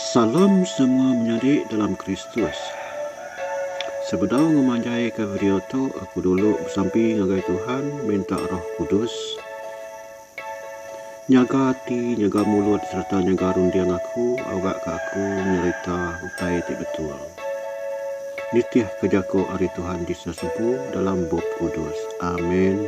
Salam semua menyadi dalam Kristus. Sebedau ngemanjaika video tu, aku dulu besampi ngagai Tuhan minta Roh Kudus. Nyaga ati, nyaga mulut sereta nyaga runding aku awakka aku nyerita utai ti betul. Nitihka jaku ari Tuhan ti sesempu dalam Bup Kudus. Amen.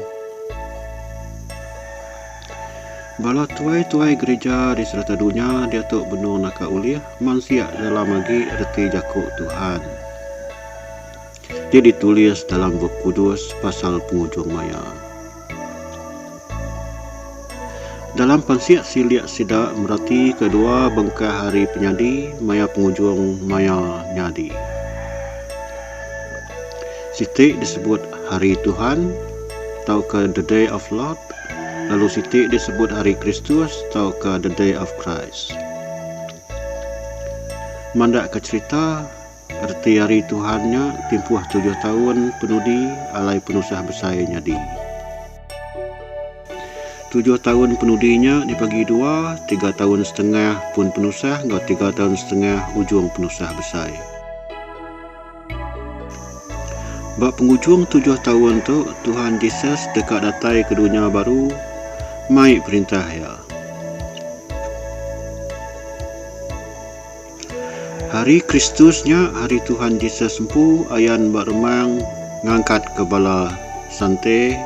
Bala tuai-tuai gerija di serata dunya diatu benung naka ulih mansia dalam agi reti jaku Tuhan. ti ditulis dalam Bup Kudus pasal pengujung maya. Dalam pansik silik sida meratika dua bengkah hari penyadi maya pengujung maya nyadi. Siti disebut Hari Tuhan tauka The Day of Lord, lalu siti disebut Hari Kristus tauka The Day of Christ. Mandakka cherita, Reti Hari Tuhan nya timpuh tujuh taun penudi alai penusah besai nyadi. Tujuh taun penudi nya dibagi dua, tiga taun setengah pun penusah enggau tiga taun setengah ujung penusah besai. Ba pengujung tujuh taun tu, Tuhan Jesus deka datai ke dunya baru mai Perintah Iya. Hari Kristus nya hari Tuhan Jesus empu ayan ba remang ngangkat ke bala sante.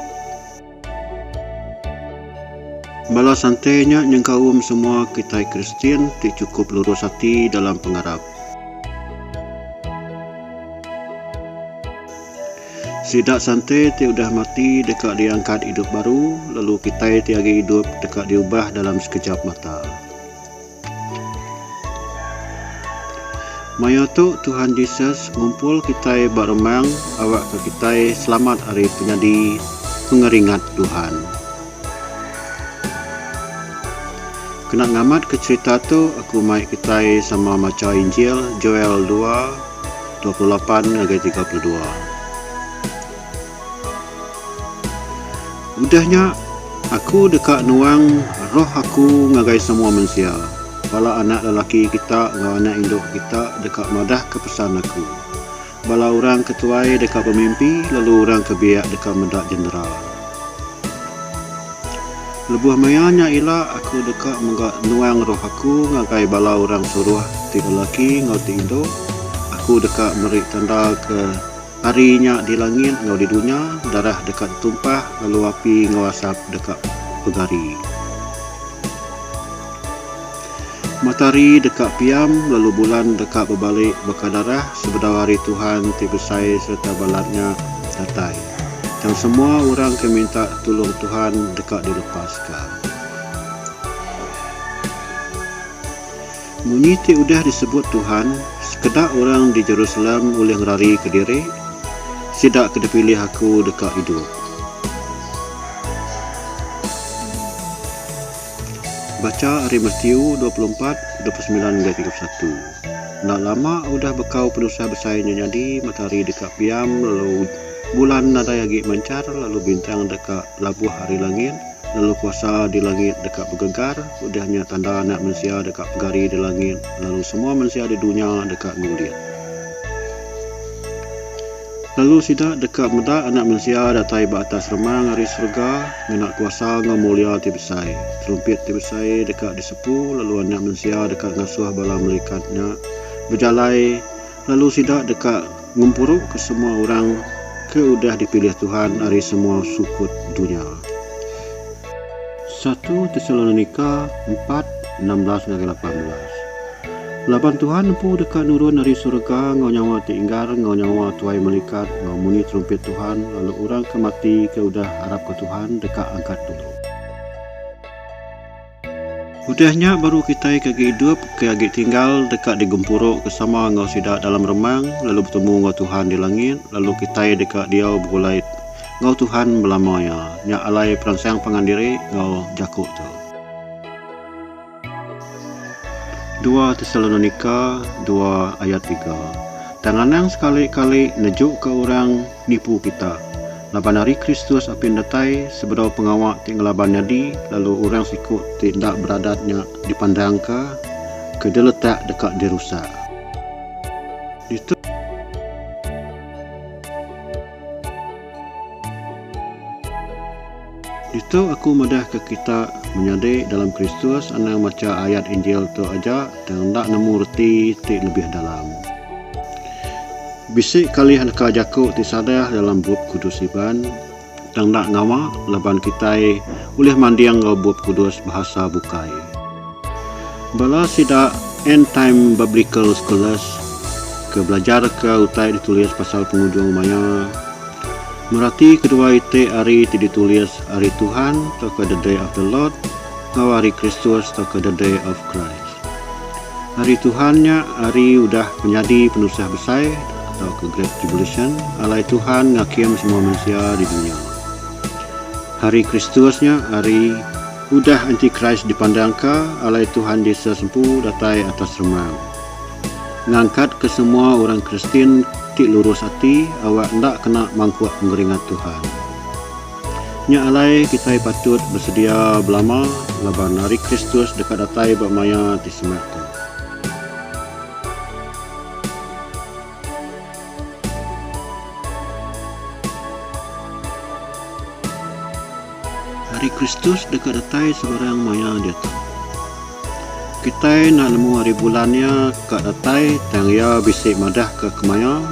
Bala sante nya nyengkaum semua kitai Kristian ti chukup lurus ati dalam pengarap. Sida sante ti udah mati deka diangkat idup baru, lalu kitai ti agi idup deka diubah dalam sekejap mata. Maya tu Tuhan Jesus ngumpul kitai ba remang awakka kitai selamat ari penyadi pengeringat Tuhan. Kena ngamatka cherita tu aku mai kitai sama macha Injil Joel dua, dua puluh lapan ngagai tiga puluh dua. Udah nya, aku deka nuang Roh aku ngagai semua mensia. Bala anak lelaki kita enggau anak indu kita deka madahka pesan aku. Bala orang ke tuai deka bemimpi, lalu orang ke biak deka meda jendera. Lebuh maya nya ila, aku deka mega nuang Roh aku ngagai bala orang suruh ti lelaki enggau ti indu. Aku deka meri tanda ke. Ari nya di langit enggau di dunya, darah deka ditumpah lalu api enggau asap deka begari. Matahari deka piam lalu bulan deka bebalik baka darah sebedau hari Tuhan ti besai sereta balat nya datai. Tang semua orang ke minta tulung Tuhan deka dilepaska. Munyi ti udah disebut Tuhan, sekeda orang di Jerusalem ulih ngerari kediri, Sida ke dipilih Aku deka idup. Bacha ari Matiu dua puluh empat, dua puluh semilan enggau tiga puluh satu. Enda lama udah bekau penusah besai nya nyadi, matahari deka piam lalu bulan nadai agi manchar lalu bintang deka labuh ari langit, Lalu kuasa di langit deka begegar, udah nya tanda Anak Mensia deka pegari di langit, lalu semua mensia di dunya deka ngulit. Lalu sida deka meda Anak Mensia datai ba atas remang ari serega ngena kuasa enggau mulia ti besai. Terumpit ti besai deka disepu, lalu Anak Mensia deka ngasuh bala melikat nya bejalai Lalu sida deka ngempuruka semua orang ke udah dipilih Tuhan ari semua sukut dunya. Satu Tesalonika empat, enam belas ngagai lapan belas Laban Tuhan empu deka nurun ari surga enggau nyawa ti inggar enggau nyawa tuai malikat enggau munyi terumpit Tuhan, lalu orang ke mati ke udah arapka Tuhan deka angkat dulu. Udah nya baru kitai ke agi idup ke agi tinggal deka digempuru ke sama enggau sida dalam remang lalu betemu enggau Tuhan di langit lalu kitai deka diau begulai enggau Tuhan belama iya. Nya alai peransang pangan diri enggau jaku tu. Dua Tesalonika dua ayat tiga. Tang anang sekali kali nejuka orang nipu kita. Laban Hari Kristus apin datai sebedau pengawa ti ngelaban nyadi lalu orang siku ti enda beradat nya dipandangka ke diletak deka dirusak. Ditu. Ditu aku madahka kita menyadi dalam Kristus anang macha ayat Injil tu aja tang enda nemu reti ti lebih dalam. Bisi kalih neka jaku ti salah dalam Bup Kudus Iban, tang enda ngawa laban kitai ulih manding enggau Bup Kudus Bahasa Bukai. Bala sida End Time Biblical Scholars ke belajarka utai ditulis pasal pengujung maya, Merati kedua iti ari ti ditulis Ari Tuhan tauka The Day of the Lord enggau Ari Kristus tauka The Day of Christ. Ari Tuhan nya ari udah penyadi penusah besai tauka Great Tribulation alai Tuhan ngakim semua mensia di dunya. Hari Kristus nya ari udah Anti-Christ dipandangka alai Tuhan Jesus empu datai atas remang. Ngangkatka semua orang Kristian ti lurus ati awak enda kena mangkuk pengeringat Tuhan. Nya alai kitai patut besedia belama laban Hari Kristus deka datai ba maya ti semak tu. Ari Kristus deka datai sebarang maya diatu. Kitai enda nemu ari bulan iya ka datai tang iya bisi madahka kemaya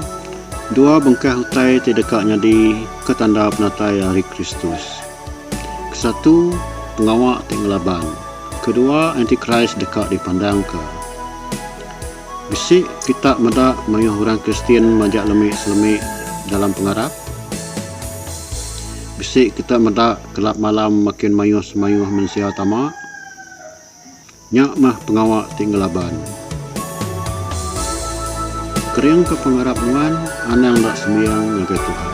dua bengkah utai ti deka nyadi ke tanda penatai ari Kristus. Kesatu, pengawa ti ngelaban. Kedua, Antikris deka dipandangka. Bisi kita meda mayuh orang Kristian majak lemi-selemi dalam pengarap? Bisi kita meda kelap malam makin mayuh semayuh mensia tama? Nya meh pengawa ti ngelaban. Keringka pengarap nuan anang enda sembiang ngagai Tuhan.